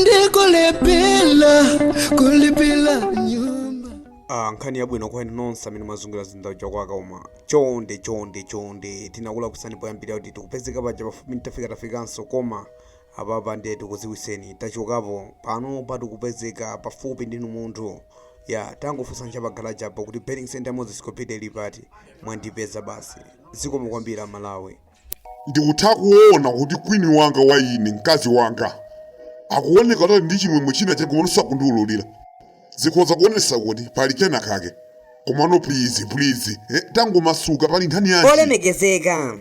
ndikulephera kulipira nyumba Ah, nkhani yabwino kwa inu nonse amene mwazungulira zinda wa chakwaka koma chonde chonde chonde tinakulakusani poyambira kuti tikupezeka paja pafupi ntafika tafikanso koma apapa ndiye tikuziwiseni tachokapo pano pano tikupezeka pafupi ndinu munthuwe tangofunsa cha pagalajapo kuti betting center moses copita ili pati mwandipeza basi zikomo kwambiri amalawi Ndikutha kuona kuti kwini wanga wa ine, mkazi wanga, akuoneka kuti ali ndi chimwemwe china chake komano sakundiululira. Zikhoza kuonetsa kuti pali kena kake. Komano please, please, eh, tangomasuka pali nkhani yanji. olemekezeka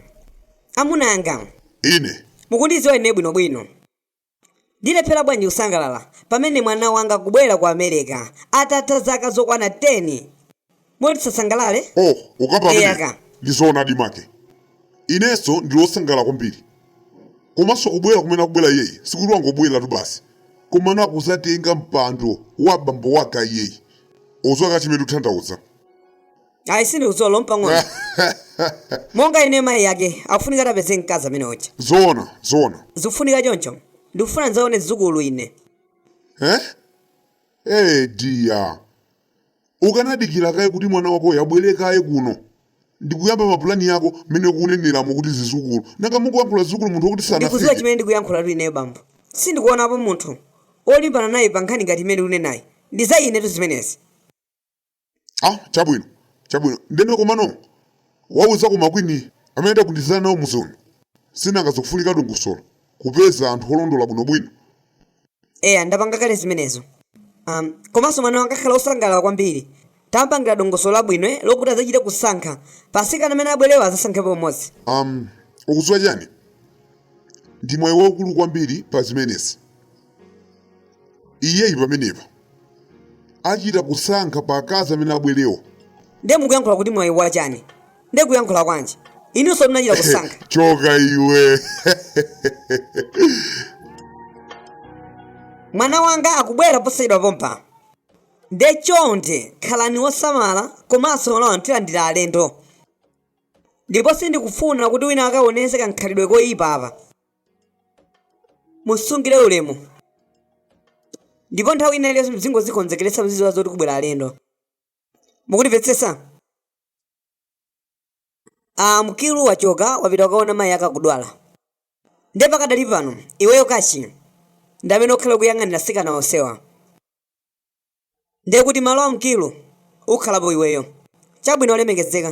amunanga Ine, mukundidziwa ine bwinobwino Ndilephera bwanji kusangalala pamene mwana wanga akubwera ku America atatha zaka zokwana 10? Moti tisasangalale? Oh, ukape ameneyo. Eyaka. Ndi zoonadi make. Inenso ndili wosangalala kwambiri. Komanso kubwera kumene akubwera iyeyi sikuti wangobwereratu basi, komano akudzatenga mpando wa bambo ake iyeyi. Ukudziwa chimene ndikutanthauza? ayi sindikudziwa olo mpang'ono monga ine mayi yake akufunika atapeza mkazi ameneyo ja zoona zoona zikufunika choncho ndikufuna ndidzaone zidzukulu ine eh? eh diya ukanadikira kaye kuti mwana wakoyo abwere kaye kuno ndikuyamba mapulani yako mmene ukuneneramo kuti zizukulu nanga mukuyankhula zizukulu munthu wakuti ndikudziwa sanafike chimene ndikuyankhulatu ineyo bambo sindikuonapo munthu olimbana naye pa nkhani ngati imene ukunenayi ndi za inetu zimenezi ah chabwino chabwino ndeno komano wauza ako ma kwini amene tagwirizana nawo mudzi uno si nanga zikufunika dongosolo kupeza anthu olondola bwinobwino eya ndapanga kale zimenezo um, komanso mwana wanga akhala osangalala kwambiri tampangira dongosolo labwino eh, lokuti adzachite kusankha pa atsikana amene abwerewo azasankhepo mmodzi um, ukudziwa chani ndi mwayi waukulu kwambiri pa zimenezi iyeyi pamenepo achita kusankha pa akazi amene abwerewo nde mukuyankhula kuti mwayi wachani nde kuyankhula kwanji inunso munachita kusankha choka iwe mwana wanga akubwera posachedwa pompa nde chonde khalani wosamala komanso mawa tilandira alendo ndipo sindikufuna kuti wina akaonese kakhalidwe koyipa apa mumusungire ulemu ndipo nthawi ina iliyonse muzingozikonzekeretsa muzidziwa zoti kubwera alendo mukundimvetsetsa ah mkilu wachoka wapita kukaona mayi ake akudwala nde pakadali pano iweyo kachi ndi amene ukhale ukuyang'anira atsikana onsewa ndi kuti malo a mkilu ukhalapo iweyo chabwino olemekezeka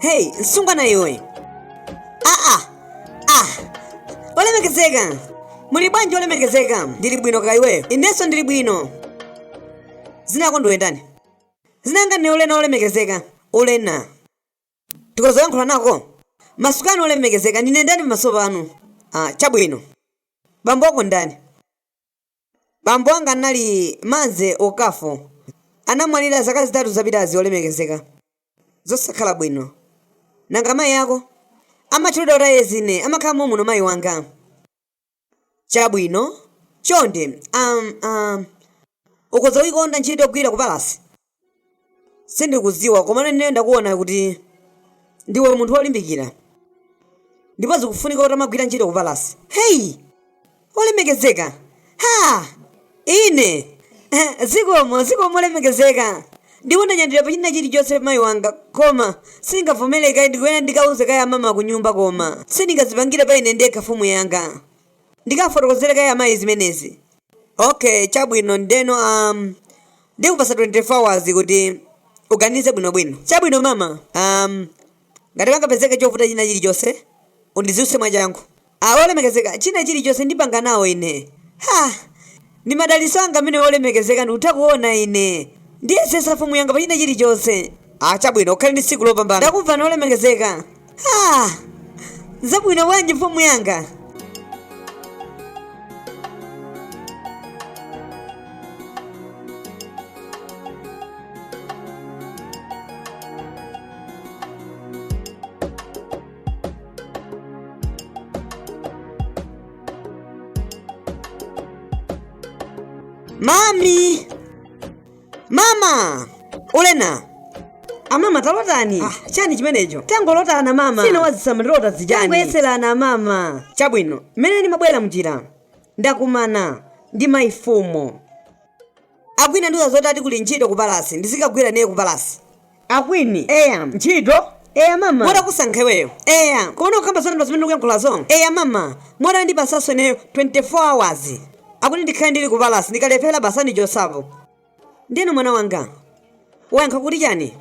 heyi msungwana iwe aa olemekezeka muli bwanji olemekezeka ndili bwino kaya iweyo inenso ndili bwino dzina lako ndiwe ndani Dzina langa ndine ulena olemekezeka ulena tikhoza kuyankhula nako masukani, olemekezeka ndine ndani pamaso panu ah chabwino bambo wako ndani bambo wanga anali Mazi Okafor anamwalira zaka zitatu zapitazi olemekezeka zosakhala bwino nanga mayi ako amatchulidwa kuti a Ezinne amakhala momuno mayi wanga Chabwino, chonde, um, um, ukhoza kuyikonda ntchito yogwira ku palasi? Sindikudziwa, komano ineyo ndakuwona kuti ndiwe munthu wolimbikira. Ndipo zikufunika kuti uzigwira ntchito ku palasi. Heyi! Olemekezeka! Ha! Ine, Zikomo, zikomo olemekezeka. Ndipo ndanyadira pa china chirichonse mayi wanga, koma, sindingavomere kaye, ndikuyenera ndikauze kaye amama kunyumba koma. Sindingazipangire pa ine ndekha mfumu yanga. Ndikawafotokozere kaye amayi zimenezi. Ok, chabwino, ndiyeno a, ndikupatsa 24 hours kuti uganize bwinobwino. Chabwino mama, a, ngati pangapezeke chovuta china chirichonse, undidziwitse mwachangu. A, Olemekezeka, china chirichonse ndipanga nawo ine. Ha! Ndi madalitso anga amenewo olemekezeka ndikutha kuwona ine ndiyesetsa mfumu yanga pa china chirichonse. A, Chabwino, ukhale ndi tsiku lopambana. Ndakumvani olemekezeka. Ha! Zabwino bwanji mfumu yanga? Mami! Mama! Ulena! Amama talotani,? Ah, chani chimenecho? Tangolotani mama. Si mumadziwa zomalota zijani. Tangoyeserani mama. Chabwino, mmene ndimabwera mnjira. Ndakumana ndi mayi mfumu. akwini andiuza zoti ati kuli ntchito ku palasi ndizikagwira ineyo ku palasi akwini eya ntchito eya mama moti akusankha iweyo eya koma ukukamba zonamba zimene ukuyankhulazo eya mama moti andipatsanso ineyo 24 hours akuti ndikhale ndili ku palasi ndikalephera basi andichotsapo ndiyeno mwana wanga wayankha kuti chani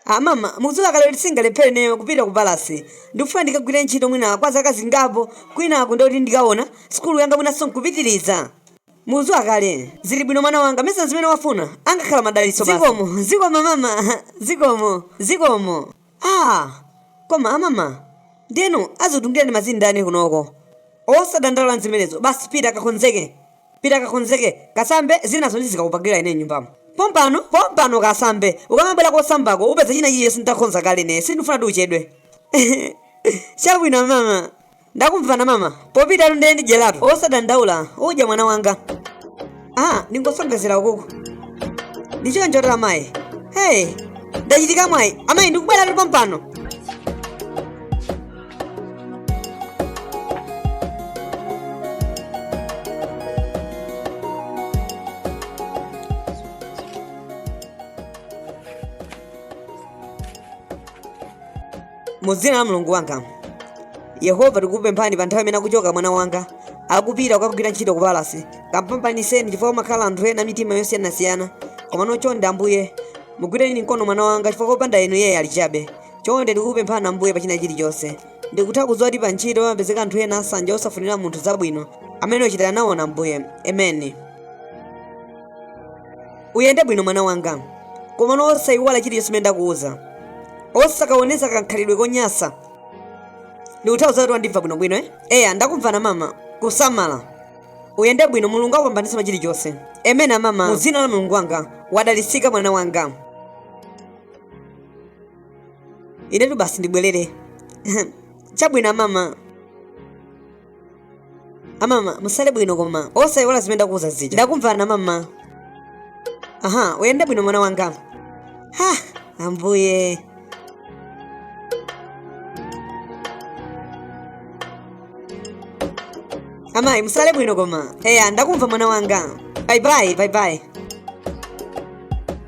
amama mukudziwa kale kuti singalephere ineyo kupita ku palasi ndikufuna ndikagwire ntchito mwina kwa zaka zingapo kwinaku ndikuti ndikaona sukulu yanga mwinanso nkupitiriza mukudziwa kale zili bwino mwana wanga mesa zimene wafuna angakhala madalitso basi. zikomo zikomo mama zikomo zikomo ah koma amama ndi inu andisungireni madzi ndani kunoko osadandaula nzimenezo basi pita kakonzeke Pita kakonzeke, kasambe, zinazo ndizikakupangila ine nyumbamo. Pompano, pompano kasambe, ukamabwela kosambako upeza china chilichonse nditakonza kale ine, sindifuna kuti uchedwe. Chabwino amama. Ndakumvani amama, popitatu ndiye ndidyelatu, osadandaula, udya mwana wanga. Ah, ndingosongezera ukuku. Ndichoncho amayi. Hey, ndachita mwayi, amayi ndikubwelatu pompano. mu dzina la mulungu wanga yehova tikukupemphani pa nthawi imene akuchoka mwana wanga akupita kukagwira ntchito ku palasi kampambaniseni chifukwa kumakhala anthu ena mitima yosiyanasiyana komano chonde ambuye mugwireni mkono mwana wanga chifukwa kopanda inu iye ali chabe chonde ndikukupemphani ambuye pa china chilichonse ndikutha kudziwa kuti pa ntchito pamapezeka anthu ena asanja osafunira munthu zabwino amene ochitira nawo nawo ambuye emeni uyende bwino mwana wanga komano osaiwala chilichonse chimene ndakuwuza osakaonesa kakhalidwe konyasa ndikutha kudziwa kuti wandimva bwinobwino eh? eya ndakumvani amama kusamala uyende bwino mulungu akupambanitse pa chilichonse emeni amama mu dzina la mulungu wanga wadalitsika mwana wanga inetu basi ndibwerere chabwino amama amama musale bwino koma osayiwala zimene ndakuwuza zija ndakumvani amama aha uyende bwino mwana wanga ha ambuye amayi musale bwino koma eya ndakumva mwana wanga bayibayi bayibayi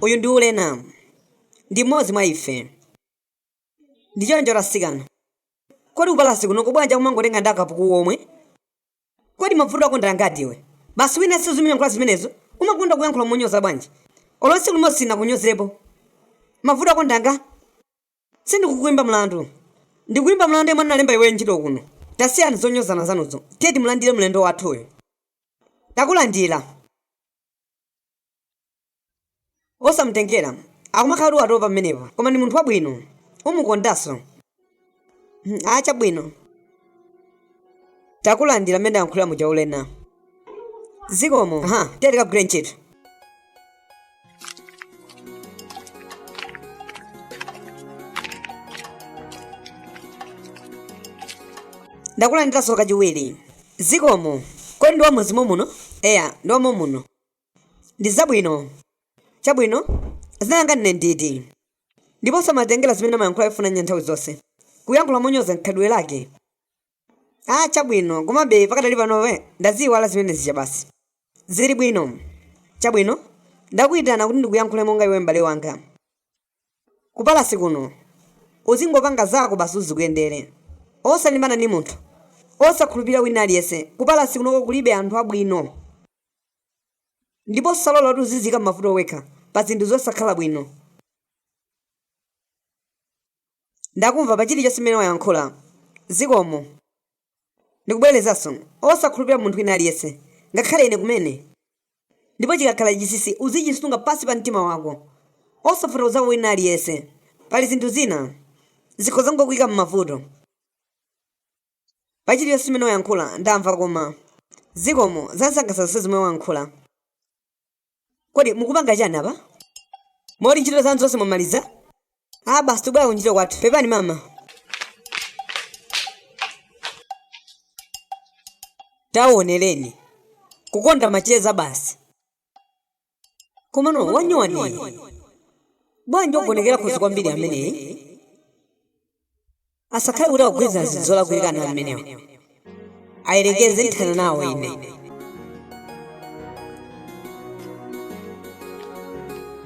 uyu ndi ulena ndi mmodzi mwa ife ndi choncho atsikana kodi kupalasi kuno kubwanji akumangotenga ndi akapuku omwe kodi mavuto ako ndi angati iwe basi usamazingoyankhula zimenezo umakonda kuyankhula monyoza bwanji olonse limodzi sindinakunyozepo mavuto ako ndi anga Sindikukuimba mlandu. Ndikuimba mlandu yemwe anakulemba iweyo ntchito kuno. Tasiyani zonyozana zanuzo. Tiye timulandire mlendo wathuyu. Takulandira. Osamutengera. Akumakhala kuti wa topa pamenepa. Koma ndi munthu wabwino. Umukondanso. Hmm, ah chabwino. takulandira mmene ayankhulira muja ulena zikomo aha tiye tikagwire ntchito ndakulandiranso kachiwiri zikomo kodi ndi wamuzimu muno eya ndi wamomuno Ndi zabwino. Chabwino, dzina langa ndine nditi? Ndipo osamatengera zimene amayankhula yofuna ndi ya nthawi zonse. Kuyankhula monyoza mkhalidwe wake. Ah, chabwino, komabe pakadali pano we, ndaziiwala zimene zija basi. Zili bwino. Chabwino, ndakuitana kuti ndikuyankhule monga iwe m'bale wanga. Kupalasi kuno, uzingopanga zako basi uzikuyendere. Osalimbana ndi munthu. Osakhulupirira wina aliyense. Kupalasi kunoko kulibe anthu abwino. ndipo osalola kuti uzidziika m'mavuto wekha pa zinthu zosakhala bwino ndakumva pa chilichonse chimene wayankhula zikomo ndikubwerezanso osakhulupirira munthu wina aliyense ngakhale ine kumene ndipo chikakhala chinsinsi uzichisunga pansi pa mtima wako osafotokozako wina aliyense pali zinthu zina zikhoza kukuyika m'mavuto pachilichonse chimene wayankhula ndamva koma zikomo zansangalatsa zonse zomwe wayankhula kodi mukupanga chani apa moti ntchito zanu zonse mwamaliza a basi tikubwera kuntchito kwathu pepani mama taonjeza kukonda macheza basi komano anyamata bwanji owonekera khosi kwambiri ameneyi asakhale kuti akugwirizana zinthu zolakwika ana amenewa ayerekeze nthana nawo ine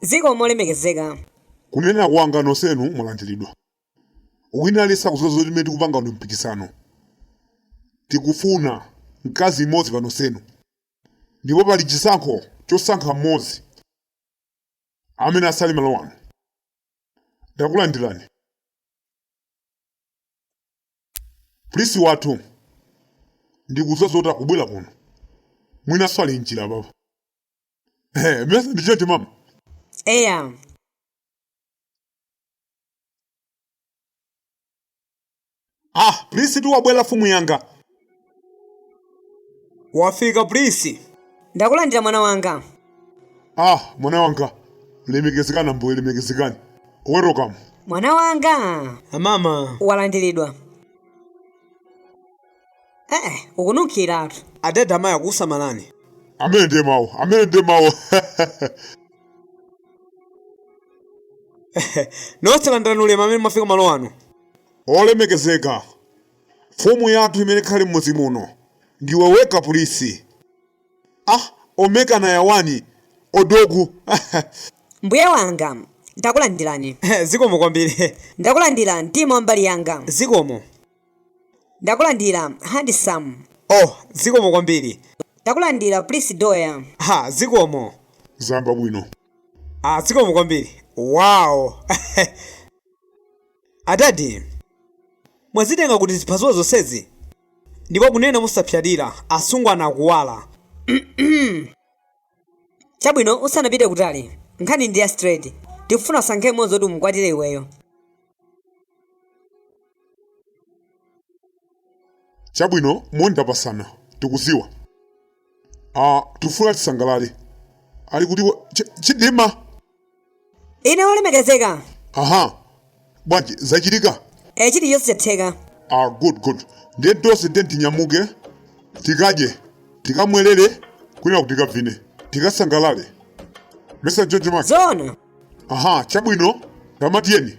Zikomo olemekezeka. Kunena kwanga nosenu mwalandilidwa. Wina aliyense akudziwa zoti mmene tikupanga pano mpikisano. Tikufuna mkazi mmodzi pa nosenu. Ndipo pali chisankho chosankha mmodzi amene asale malo ano. Ndakulandilani. Prince wathu ndikudziwa zoti akubwera kuno. Mwinanso ali mnjira apapa. Eh, mesa ndi chete mama. eya Ah, prince tu wabwera mfumu yanga. wafika prince ndakulandira mwana wanga Ah, mwana wanga. Lemekezekani ambuye lemekezekani. Welcome. mwana wanga amama walandiridwa ee ukununkhiratu adada amayi akukusamalani amene ndiye mawu amene ndiye mawu nonse landirani ulemu amene mwafika malo ano olemekezeka mfumu yathu imene ikhale m'mudzi muno ndiwe weka prince ah omekana yawani odogu mbuye wanga ndakulandirani zikomo kwambiri ndakulandira mtima wa mbali yanga zikomo Ndakulandira handsome. Oh zikomo kwambiri. Ndakulandira prince doya. Ha zikomo. Zayamba bwino. Ah zikomo kwambiri. Wow. Adadi. Mwazitenga kuti ziphaso zonsezi? Ndipo kunena mosapsatira asungwana akuwala. Chabwino, usanapite kutali, nkhani ndi ya straight. Tikufuna usankhe mmodzi woti umukwatire iweyo. Chabwino, moni tapasana. Tikudziwa. Ah, tikufuna tisangalale. Ali kuti wa- Chi- Chidima? ine olemekezeka aha bwanji zachitika e chilichonse chatheka ah good good ndiye tonse ndiye tinyamuke tikadye tikamwerere kwina kuti tikavine tikasangalale mesa jojo maki zoona aha chabwino tamatiyeni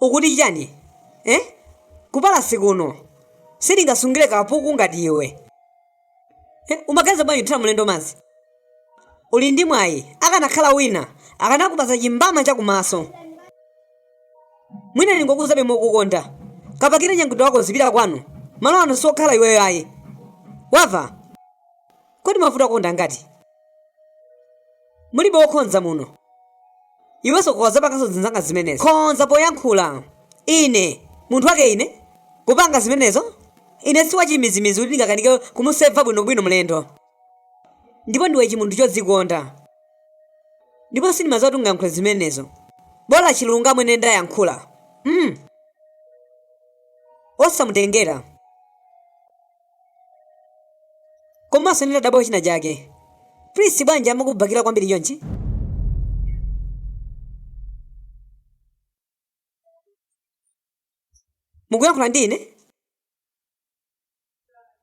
ukuti chani eh? kupalasi kuno sindingasungire kapuku ngati iwe Eh, umaganiza bwanji kuthira mlendo madzi uli ndi mwayi akanakhala wina akanakupasa chimbama chakumaso mwina ndingokuuzabe mokukonda kapakire katundu wako uzipita kwanu malo ano siokhala iweyo ayi wava kodi mavuto kukonda ngati mulibe wokhonza muno Iwe sukukozapanganso zinzanga zimenezo. Konza poyankhula. Ine, munthu wake ine? Kupanga zimenezo? Ine si wachimizimizi kuti ndingakanike kumuseva bwinobwino mlendo. Ndipo ndiwe chimunthu chodzikunda. Ndipo sindimadziwa kuti ungayankhule zimenezo. Bola chilungamo ine ndayankhula. Mm. Osamutengera. komanso ndinadabwa china chake prince bwanji amakubakira kwambiri chonchi mukuyankhula ndi ine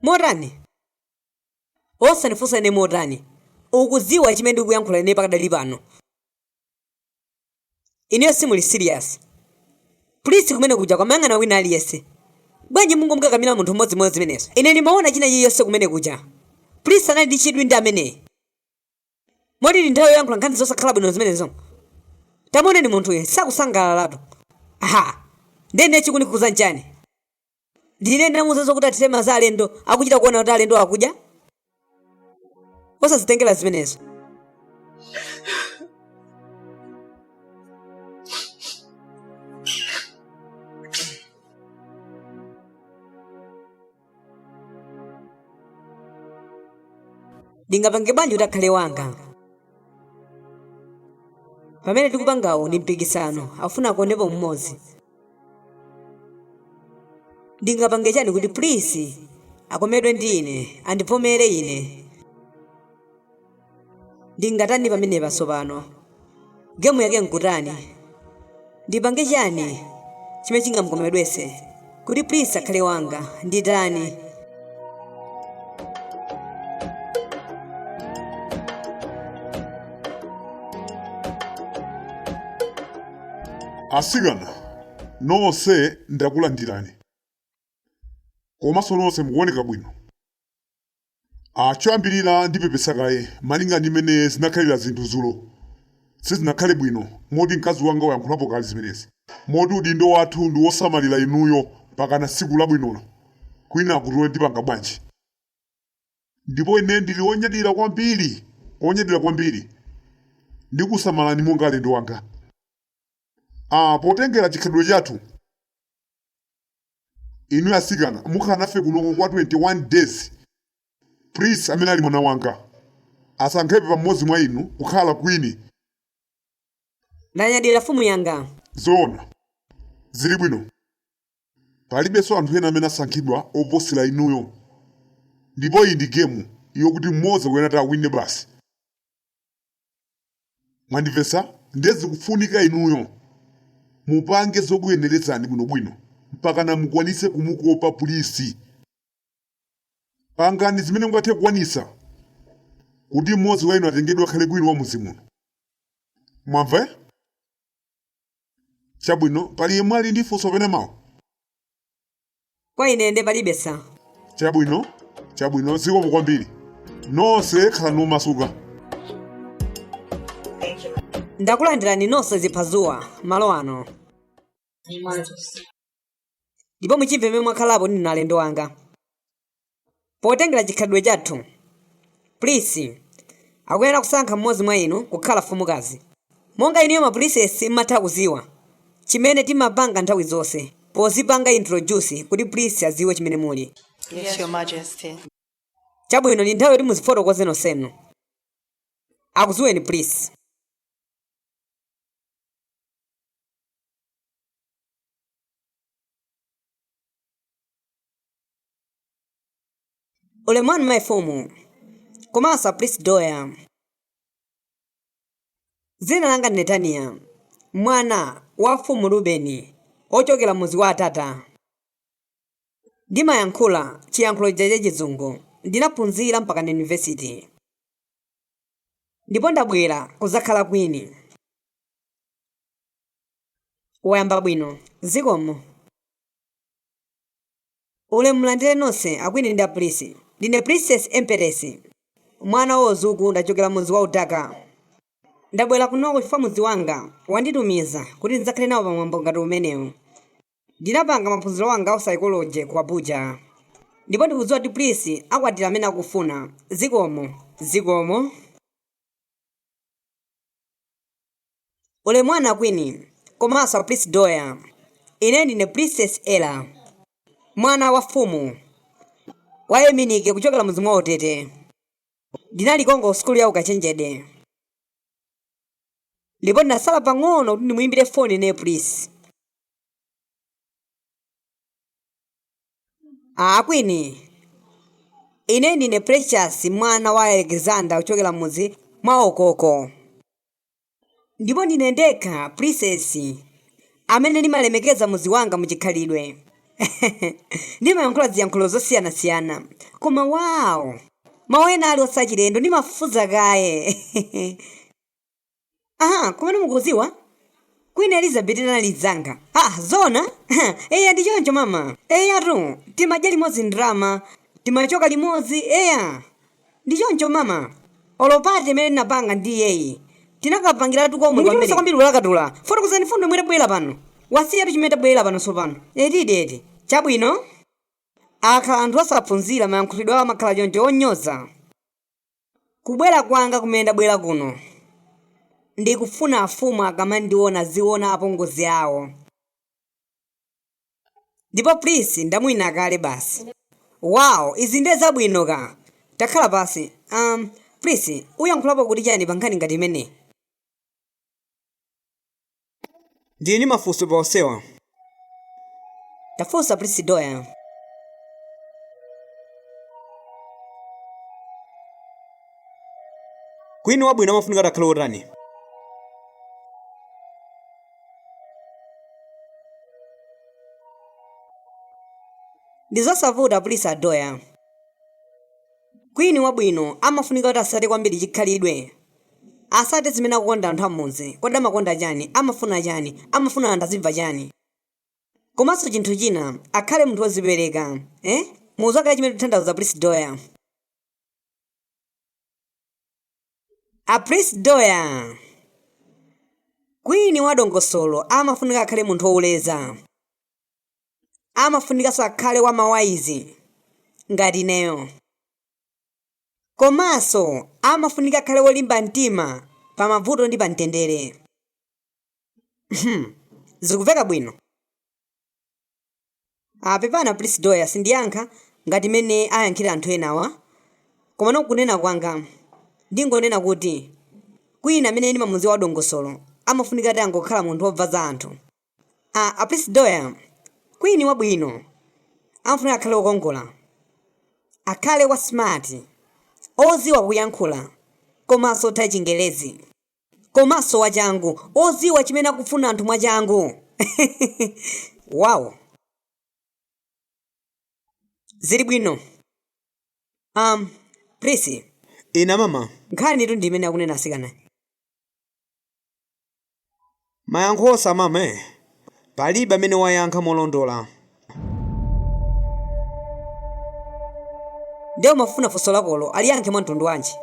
motani osandifunsa ine motani ukudziwa chimene ndikuyankhula ine pakadali pano ineyo simuli serious prince kumene kuja akumayang'ana wina aliyense bwanji mungomkakamira munthu mmodzimodzi zimenezo ine ndimaona china chiyonse kumene kuja prince anali ndi chidwi ndi ameneyi moti ndi nthawi yoyankhula nkhani zosakhala bwino zimenezo tamuoneni munthuyu sakusangalalatu aha ndene chikukukuza nchani ndiye ndinamuuzanso kuti athire madzi alendo akuchita kuona kuti alendo akudya osazitengera zimenezo ndingapange bwanji kuti akhale wanga pamene tikupangawo ndi mpikisano afuna akondepo mmodzi ndingapange chani kuti prince akomedwe ndi ine andivomere ine ndingatani pamenepa tsopano gemu yake nkutani ndipange chani chimene chingamukomedwetse kuti prince akhale wanga nditani asikana nonse ndakulandirani komanso nonse mukuoneka bwino choyambirira ndipepesa kaye malinga ndi mmene zinakhalira zinthu zulo Sizinakhale bwino moti mkazi wanga wayankhulapo kale zimenezi. Moti udindo wathu ndi wosamalira inuyo mpakana tsiku labwinolo. Kwinakutu tipanga bwanji? Ndipo ine ndili wonyadira kwambiri, wonyadira kwambiri. Ndikusamalani monga alendo anga. Ah, potengera chikhalidwe chathu, inu atsikana mukhala nafe kunoko kwa 21 days. Prince amene ali mwana wanga, asankhepo mmodzi mwa inu kukhala queen. Ndanyadira mfumu yanga. Zoona. Zilibwino. Palibenso anthu ena amene asankhidwa oposera inuyo. Ndipo iyi ndi game yokuti mmodzi akuyenera kuti awine basi. Mwandimvetsa? Ndiye zikufunika inuyo mupange zokuyenerezani bwinobwino mpakana mukwanitse kumukopa Prince. Pangani zimene mungathe kukwanitsa kuti mmodzi wa inu atengedwe akhale queen wa mudzi muno. Mwamva eh? Chabwino, pali yemwe ali ndi funso kapena mawu? Kwa ine nde palibe sa. Chabwino, chabwino, zikomo kwambiri. Nonse khalani omasuka. Ndakulandirani nonse ziphadzuwa malo ano. ndipo muchimve mmene mwakhalapo ndinu alendo anga potengera chikhalidwe chathu prince akuyenera kusankha mmodzi mwa inu kukhala mfumukazi monga inuyo ma princess mumatha kuziwa chimene timapanga nthawi zonse pozipanga introduce kuti prince aziwe chimene muli Yes, Your Majesty. chabwino ndi nthawi yoti muzifotokoze nonsenu akuziweni prince ulemu wanu mayi fumu komanso a prinsi doya dzina langa ndi netaniya mwana wa mfumu rubeni wochokera mudzi wa atata ndimayankhula chiyankhulo chija cha chizungu ndinaphunzira mpaka na yunivesiti ndipo ndabwera kudzakhala kwini wayamba bwino zikomo ulemu mulandire nonse akwini ndi a prinsi ndine princess empress mwana wa uzuku ndachokera mudzi wa udaka ndabwera kunoko chifukwa mudzi wanga wanditumiza kuti ndidzakhale nawo pamwambo ngati umenewu ndinapanga maphunziro anga a psychology ku abuja ndipo ndikudziwa kuti prince akwatira amene akufuna zikomo zikomo Ulemu wanu a queen komanso a prince Doya. Ine ndine Princess Ella mwana wa fumu wa Eminike kuchokera mudzi mwa Otete. Ndinali konko ku sukulu ya ukachenjede ndipo ndinasala pang'ono kuti ndimuyimbire foni ine Prince. A queen ine ndine Precious mwana wa Alexander kuchokera mudzi mwa Okoko. ndipo ndine ndekha prinsesi amene ndimalemekeza mudzi wanga muchikhalidwe ndimayankhula ziyankhulo zosiyanasiyana koma wawo mawu ena ali osachilendo ndimafunsa kaye aha komanso mukuziwa queen elizabeth anali dzanga ah zona eya ndi choncho mama eyatu timadya limodzi ndrama timachoka limodzi eya Ndi choncho mama? Olo party imene tinapanga ndi iyeyi tinakapangilatu komwe kwamene. Mukuchulusa kwambiri ulakatula. Fotokozani fundo yomwe tabwelela pano. Wasiyatu chimene tabwelela pano sopano. Etidi eti. Chabwino. Akakhala anthu osaphunzila mayankhulidwe awo amakhala choncho onyoza. Kubwela kwanga kumene ndabwela kuno ndikufuna afumu akamandiona aziona apongozi awo. Ndipo Prince ndamuwina kale basi. Wow izi ndiye zabwino ka. Takhala pansi. Um, Prince, uyankhulapo kuti chani pa nkhani ngati imeneyi? Ndili ndi mafunso pa onsewa. Tafunsa Prince Doya. Queen wabwino amafunika atakhale otani? ndi zosavuta a prince doya kwini wabwino amafunika kuti asate kwambiri chikhalidwe asate zimene akukonda anthu amudzi kodi amakonda chani amafuna chani amafuna anthu azimva chani komanso chinthu china akhale munthu wozipereka eh? mudziwa kale chimene ndikutanthauza prince doya a prince doya kwini wa dongosolo amafunika akhale munthu woleza amafunikanso akhale wa mawaizi ngati ineyo komanso amafunika akhale wolimba mtima pa mavuto ndi pa mtendere zikuveka bwino Ah, pepani a Prince Doya sindiyankha ngati mmene ayankhira anthu enawa komano kunena kwanga ndingonena kuti kwini amene ndimamudziwa wadongosolo amafunika atangokhala munthu wobva za anthu ah, a Prince Doya kwini wabwino amafunika akhale wokongola akhale wa smart oziwa kuyankhula komanso otha chingelezi komanso wachangu oziwa chimene akufuna anthu mwachangu wow zili bwino um prince inde mama nkhanitu ndi imene akunena atsikanayi Mayankho osaamama. Palibe amene wayankha molondola. Nde umafuna funso lakolo aliyankhe mwa mtundu wanji?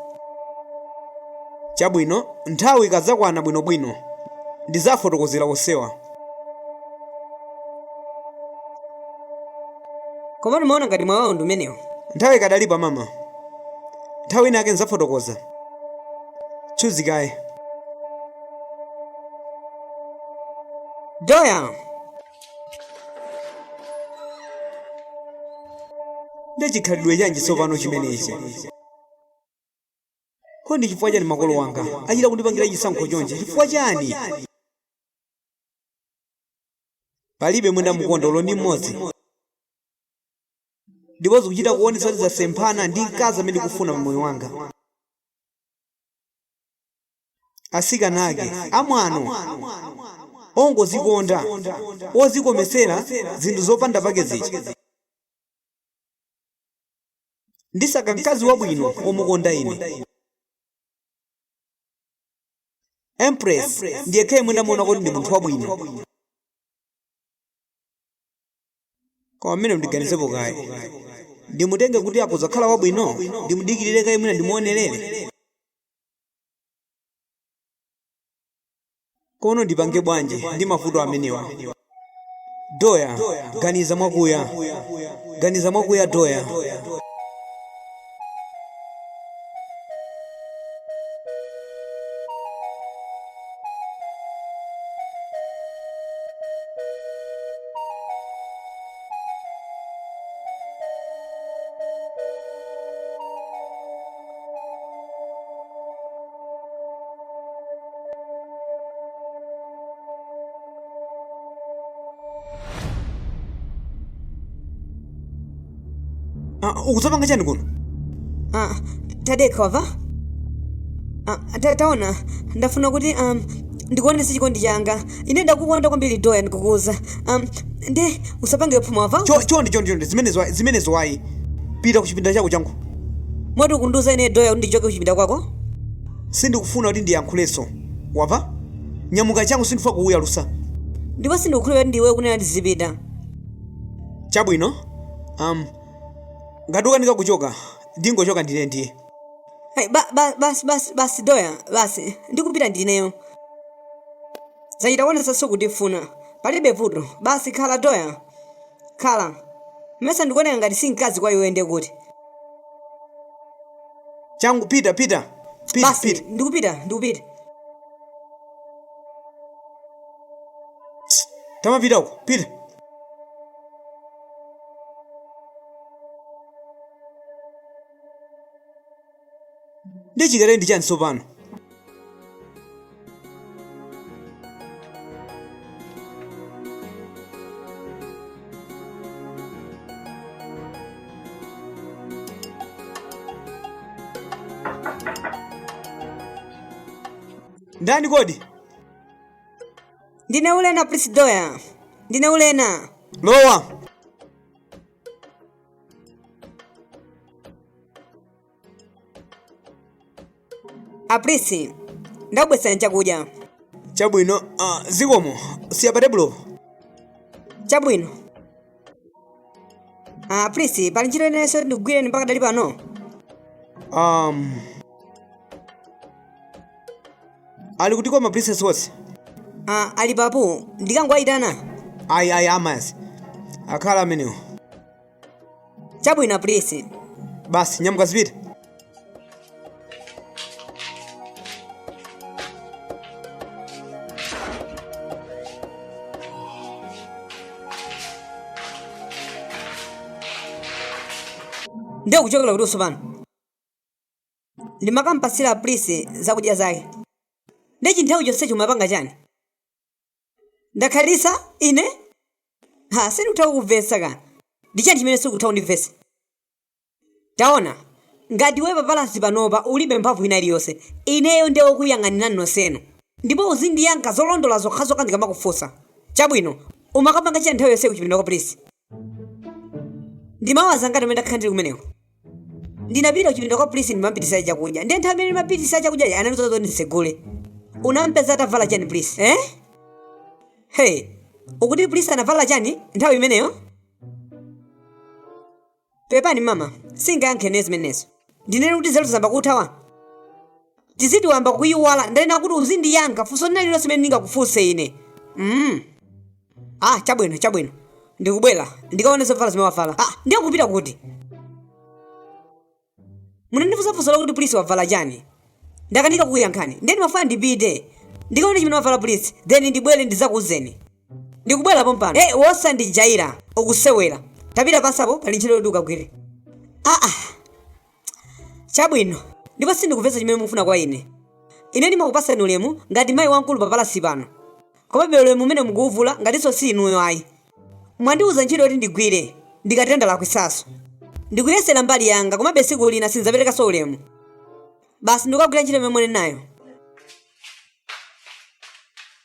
Chabwino, nthawi ikadzakwana bwinobwino, ndidzafotokozera onsewa. Komatu ndimaona ngati mwayi wawo ndi umenewu. Nthawi ikadalipo mama. Nthawi inayake ndidzafotokoza. Tchuzi kaye. doya ndi chikhalidwe chanji tsopano chimenechi kodi ndi chifukwa chani makolo wanga achita kundipangira chisankho chonchi chifukwa chani palibe amene ndamukonda olo ndi mmodzi ndipo zikuchita kuonetsa kuti zasemphana ndi mkazi amene ndikufuna pa moyo wanga atsikana ake amwano ongozikonda ozikometsera zinthu zopanda pake zija ndisaka mkazi wabwino omukonda ine empress ndi yekha yemwe ndamuona kuti ndi munthu wabwino koma mmene ndiganizepo kaye ndimutenge kuti akuzakhala wabwino ndimudikirire kaye mwina ndimuonerere koma ndipange bwanji ndi mavuto amenewa doya ganiza mwakuya ganiza mwakuya doya Ah, ukuzapanga chani kuno Ah, tadekha wava Ah, ta- taona ndafuna kuti um, ndikuonese chikondi changa ine ndakukonda kwambiri doya ndikukuuza um, nde usapange phuma wava Cho- chonde chonde chonde zimenezo ayi- zimenezo ayi pita ku chipinda chako changu moti ukundiuza ine doya kuti ndichoke kuchipinda kwako sindikufuna kuti ndiyankhulenso wava nyamuka changu sindifuna kukuyalusa ndipo sindikukhulupirira kuti ndiwe ukunena ndizipita chabwino um, ngati ukanika kuchoka ndingochoka ndine ndiye Hey, ba, ba, basi basi basi doya basi ndikupita ndineyo zachita kuonesa sukundifuna palibe vuto basi khala doya khala mesa ndikuoneka ngati si mkazi kwa iwe ndiye kuti changu pita pita pita basi pita ndikupita ndikupita tamapitako pita ndiye chikatali ndi chani tsopano ndani kodi ndine ulena plisi doya ndine ulena lowa a prince ndakubweretsani chakudya chabwino uh, zikomo siya pa tebulo chabwino ah, a prince pali ntchito inanso yoti ndigwireni mpaka dali pano um, ali kuti ka ma princess wose Ah, ali papo ndikangowayitana ayi ayi amazi akhala amenewo chabwino prince basi nyamuka zipita ndiye ukuchokera kuti tsopano ndimakampatsira prince zakudya zake nde chinthawi chonsechi umapanga chani ndakhalitsa ine ha sindikutha kukuvesa ka ndi chani chimene sukutha kundivesa taona ngati iwe papalasi panopa ulibe mphamvu ina iliyonse ineyo nde wokuyang'anirani nonsenu ndipo uzindiyankha zolondola zokhazokha ndikamakufunsa chabwino umakapanga chani nthawi yonse kuchipinda kwa prince ndi ma hours angati amene ndakhala ndili kumeneko ndinapita kuchipinda kwa prince ndimampitisa chakudya ndiye nthawi imene ndimapitisa chakudya anandiuza zoti nditsegule unampeza atavala chani prince eh? hey ukuti prince anavala chani nthawi imeneyo pepani mama singayankhe zimenezo ndinene kuti nzeru zayamba kuthawa tiziti wayamba kuyiwala ndanena kuti uzindiyankha funso lina lililonse limene ndingakufunse ine mm. ah chabwino chabwino ndikubwera ndikaone zovala zimene wavala ah ndiye ukupita kuti munandifunsa funso lakuti prince wavala chani ndakanika kukuyankhani ndiye ndimafuna ndipite ndikaone chimene wavala prince then ndibwere ndizakuuzeni ndikubwera pompano hey, osandijaira ukusewera tapita panjapo pali ntchito yoti ukagwire aa ah, ah. Chabwino, ndipo sindikumvetsa chimene mukufuna kwa ine. Ine ndimakupatsani ulemu ngati mayi wamkulu pa palasi pano. Komabe ulemu umenewo mukuwuvula ngatinso si inuyo ayi. Mwandiwuza ntchito yoti ndigwire, ndikatero ndalakwitsanso. Ndikuyesera mbali yanga komabe tsiku lina sindidzaperekanso ulemu. Basi ndikukagwira ntchito imene mwanenayo.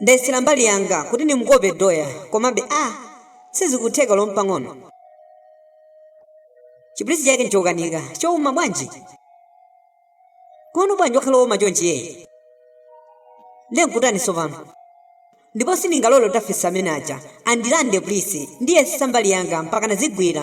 ndayesera mbali yanga kuti ndimukope doya komabe a sizikutheka olo mpang'ono chi prince chake nchokanika chouma bwanji kuno bwanji wakhala wouma chonchi yeyi ndiye nkutani tsopano ndipo sindingalole kuti afiti amene aja andilande prince ndiyesesa mbali yanga mpaka nazigwira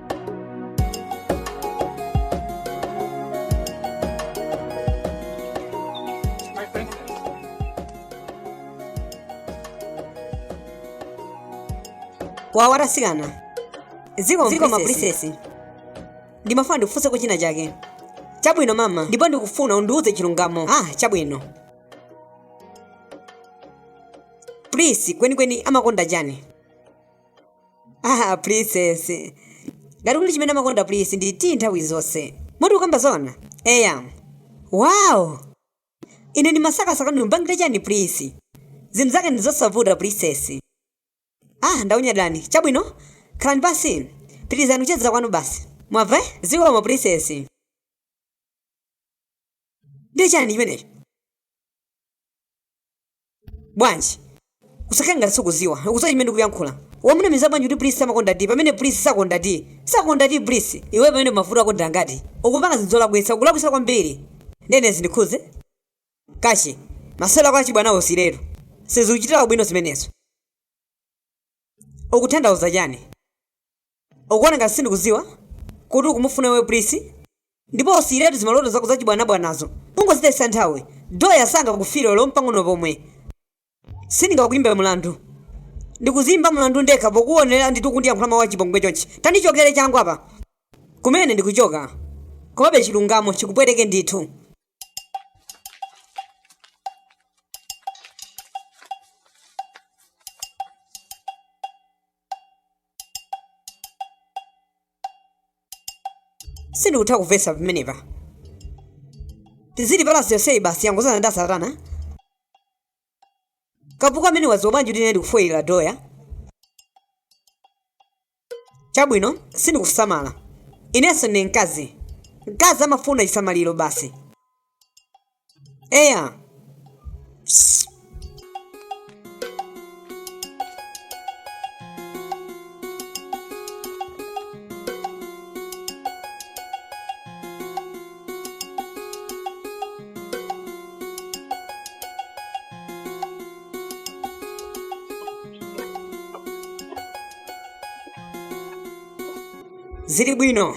wawa atasikana zikomo zikomo princess ndimafuna ndikufunseko china chake chabwino mama ndipo ndikufuna undiuze chilungamo ah chabwino prince kwenikweni amakonda chani ah princess ngati kuli chimene amakonda prince ndi ti nthawi zonse moti ukukamba zona eya wow ine ndimasakasaka ndimpangire chani prince zinthu zake ndi zosavuta princess ah ndanyadira chabwino khalani pansi pitirizani kuchezera kwanu basi mwamva zikomo princess ndi chani chimenecho bwanji usakhale ngati sukuziwa ukuziwa chimene ndikuyankhula wawanamiza bwanji kuti prince amakonda ti pamene prince sakonda ti sakonda ti prince iweyo pamenepa mavuto ako ndi angati ukupanga zinthu zolakwitsa ukulakwitsa kwambiri ndene zindikhuze kuti masewero ako achibwanawo usiyiretu sizikuchitira ubwino zimenezo ukuthandauza chani Ukuona ngati sindikuziwa kuti ukumufuna iwe Prince? Ndipo usiyiretu zimaloto zako zachibwanabwanazo. Ungozitayitsa nthawi. Doya sangakufune olo mpang'ono pomwe. Sindingakuimbe mlandu. Ndikuziimba mlandu ndekha pokuonera ndithu ukundiyankhula mau achipongwe chonchi. Tandichokere changu apa! Kumene ndikuchoka. Komabe chilungamo chikupweteke ndithu. sindikutha kumvetsa pamenepa tizili panja tsiku lonseli basi yangozana ndi asatana kavuka amene wadziwa bwanji kuti ine ndikufoyilira doya chabwino sindikusamala inenso ndi mkazi mkazi amafuna chisamaliro basi eya zili bwino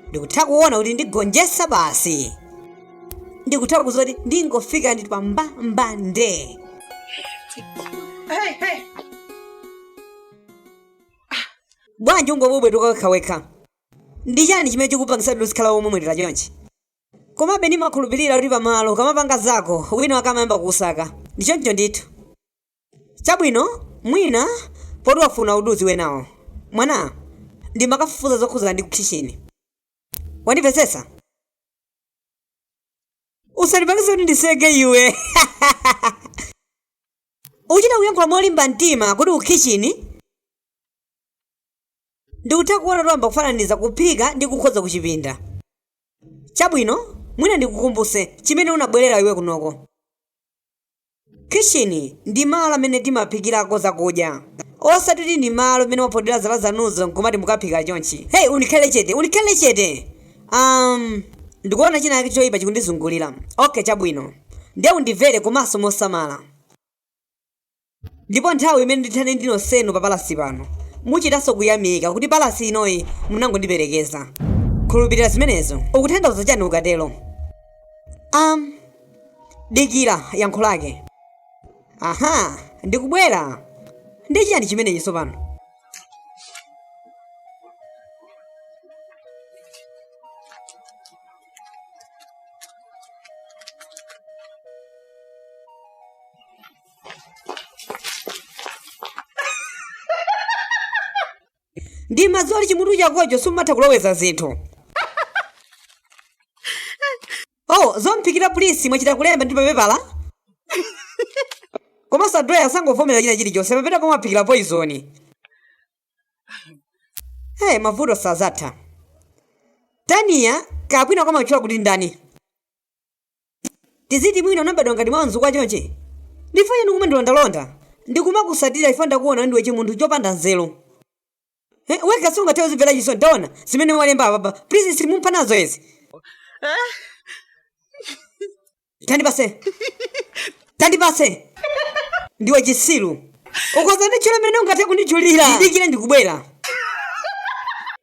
ndikutha kuona kuti ndigonjetsa basi ndikutha kuziwa kuti ndingofika nditi mbambande Hey, hey. bwanji ungobwebwetuka wekhawekha Ndi chani chimene chikupangitsani kuti muzikhala womwetulira chonchi? Komabe ndimakhulupirira kuti pamalo ukamapanga zako, wina wake amayamba kukusaka. Ndi choncho ndithu. Chabwino, mwina, poti wafuna kuti udziwe nawo. Waona, ndimakafufuza zokhudzana ndi kukhitchini. Wandimvetsetsa? Usandipangitse kuti ndiseke iwe! Ukuchita kuyankhula molimba mtima kuti kukhitchini? Ndikutha kuona wayamba kufananiza kuphika ndi kukhoza kuchipinda. Chabwino, mwina ndikukumbuse chimene unabwelera iwe kunoko. Khitchini ndi malo amene timaphikirako zakudya. Osati kuti ndi malo amene mwaphodera zala zanuzo nkumati mukaphika chonchi. Hey, unikhale chete! Unikhale chete! Um, ndikuona china chake choipa chikundizungulira. Okay, chabwino. Nde undimvere komanso mosamala. ndipo nthawi imene ndithane ndi nonsenu pa palasi pano muchitanso kuyamika kuti palasi inoyi munangondiperekeza khulupirira zimenezo ukutanthauza chani ukatero am dikira yankho lake aha ndikubwera ndi chiyani chimenechi tsopano ndi madzi oti chimutu chakocho simatha kuloweza zinthu oh zomphikira pulisi mwachita kulemba ndi papepala komanso anthu aya sangovomera china chilichonse mapeto komwe aphikira poizoni hey, mavuto sazatha taniya kapwina kwamatchula kuti ndani tiziti mwina unabadwa ngati mwa mzukwa chonchi ndiwe chani kumandilondalonda ndikumakutsatira ife ndakuona ndiwe chimunthu chopanda nzeru Eh, wekha sungathe kudzimvera chisoni taona zimene walemba apapa please sindimva nazo izi tandipatse tandipatse ndiwe chisiru ukhoza kunditchula mmene ungathe kunditchulira ndidikire ndikubwera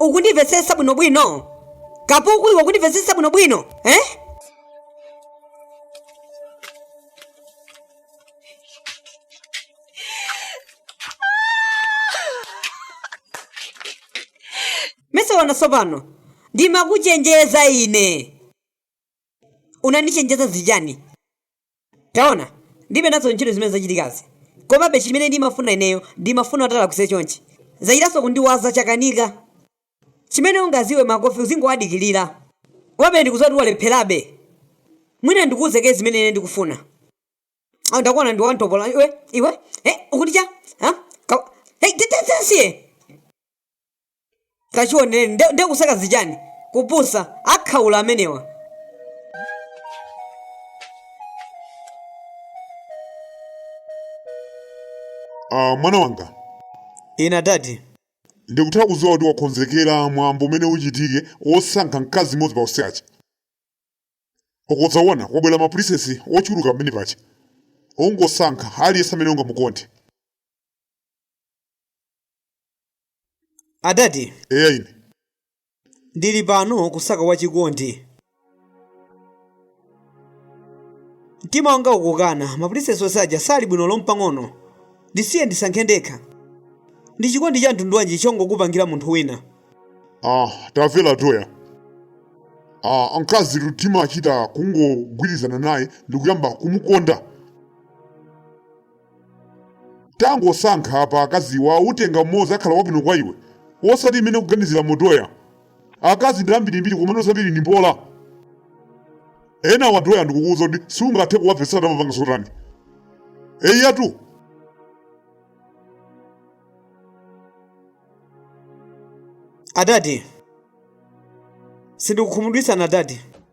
ukundimvetsetsa bwinobwino kapuku iwe ukundimvetsetsa bwinobwino eh? mesa waona tsopano ndimakuchenjeza ine unandichenjeza zichani Taona, ndilibe nazo ntchito zimene zachitikazi. Komabe chimene ndimafuna ineyo, ndimafuna utalakwitse chonchi. Zachitanso kundiwaza chakanika. Chimene ungadziwe Makofi uzingowadikilira. Komabe ndikudziwa kuti walepherabe. Mwina ndikuuze kaye zimene ine ndikufuna. Oh ndakuona ndi wamtopola iwe, iwe, eh ukuti cha? Huh? Ka hey tete tete siye. kachionere nde nde kusakaza chani kupusa akhaula amenewa Ah, mwana wanga ina ndati ndikutha kudziwa kuti wakonzekera mwambo umene uchitike wosankha mkazi mmodzi pa onse aja ukodzawona kwabwera mapulinsesi ochuluka pamene paja ungosankha aliyense amene ungamukonde adadi eya ine ndili pano kusaka wachikondi mtima wanga ukukana mapulinsesi onse aja sali bwino olo mpang'ono ndisiye ndisankhe ndekha ndi chikondi cha mtundu wanji chongokupangira munthu wina ah tamvera Doya ah mkazi mtima umachita kungogwirizana naye ndikuyamba kumukonda tangosankha apa akaziwa utenga mmodzi akhala wabwino kwa iwe osati imene kuganizira mo Doya akazi ndi ambirimbiri koma ambiri ndi mbola enawa Doya ndikukuuza kuti siungathe kuwamvetsa tamapanga zothandiza eyatu adadi sindikukhumudwitsani adadi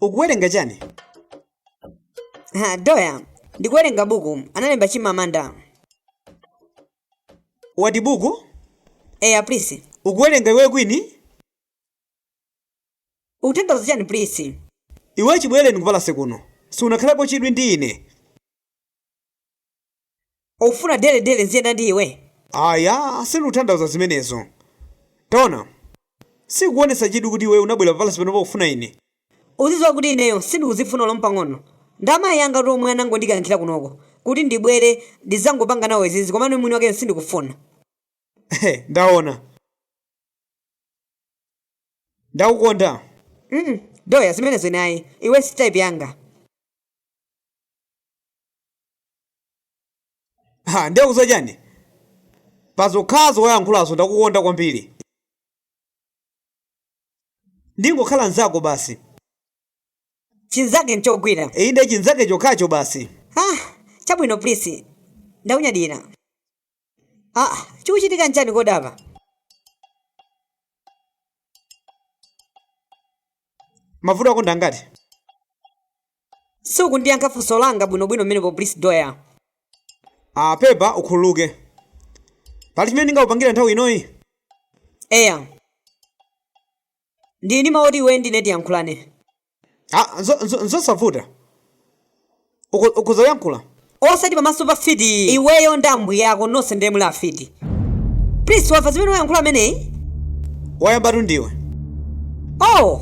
ukuwerenga chani Ha, Doya ndikuwerenga buku analemba chimamanda what buku eya Prince ukuwerenga iwe kwini Ukutanthauza chani Prince? Iwe chibweleni ku palase kuno sunakhalepo chidwi ndi ine. Ukufuna daily daily ndiziyenda ndi iwe? Aya sindikutanthauza zimenezo. Taona sukuonesa chidwi kuti iweyo unabwera pa palase panopa kufuna ine. Uziziwa kuti ineyo sindikuzifuna olo mpang'ono. Ndi amayi angatu omwe anangondikankhira kunoko kuti ndibwere ndizangopanga nawo izi komano ine mwini wakeyo sindikufuna. Ndaona. ndakukonda mm Doya zimenezo ine ayi iwe si type yanga ha nde ukudziwa chani pazokhazo wayankhulazo ndakukonda kwambiri ndingokhala nzako basi chinzake chokha inde chinzake chokhacho basi ah chabwino Prince ndakunyadira aa chikuchitika nchani kodi apa mavuto akuonekangati siukundiyankha funso langa bwinobwino mmenepo Prince Doya ah pepa ukhululuke pali chimene ndingakupangire nthawi inoyi eya Ndili ndi mawu oti iwe ndine tiyankhulane. Ah, nzo- nzo- Nzosavuta. Uko- Ukhoza kuyankhula. Osati pamaso pa fiti iyi. Iweyo ndi ambuye ako nonse ndiye muli afiti. Prince wamva zimene wayankhula ameneyi? Wayambatu ndiwe. Oh,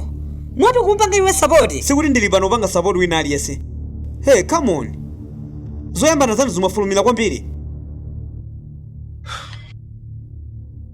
moti kumpanga iwe sapoti? Sikuti ndili pano kupanga support wina aliyense. Hey, come on. Zoyambana zanu zimafulumira kwambiri.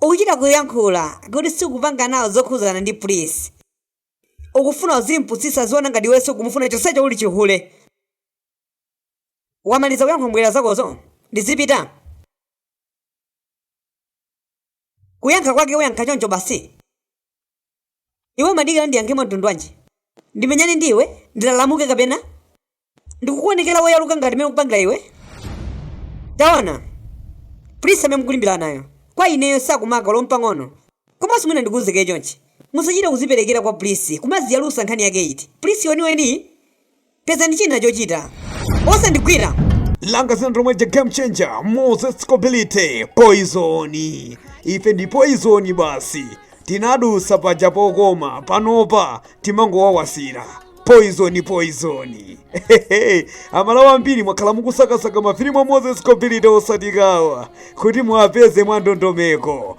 Ukuchita kuyankhula kuti sukupanga nawo zokhuzana ndi Prince. Ukufuna uzimpusisa aziona ngati iwe sukumufuna chonsecho uli chihule. Wamaliza kuyankhula mbwera zakozo? Ndizipita? Kuyankha kwake uyankha choncho basi? Iwe umadikira ndiyankhe mwa mtundu wanji? Ndimenyane ndi iwe? Ndilalamuke kapena? Ndikukuonekera woyaluka ngati mmene ukupangira iwe? Taona, Prince amene mukulimbiranayo kwa ineyo sakundimaka olo mpang'ono. Komanso mwina ndikuuze kaye chonchi, musachite kuziperekera kwa Prince kumaziyalusa nkhani yake iti? Prince weniweniyu? pezani china chochita osandigwira langa dzina ndi lomwe lija game changer moses kobilite poizoni ife ndi poizoni basi tinadusa paja pokoma panopa timangowawasira poizoni poizoni Hehehe, amalawa ambiri mwakhala mukusakasaka mafilimu a moses kobilite osadziwa kuti muwapeze mwa ndondomeko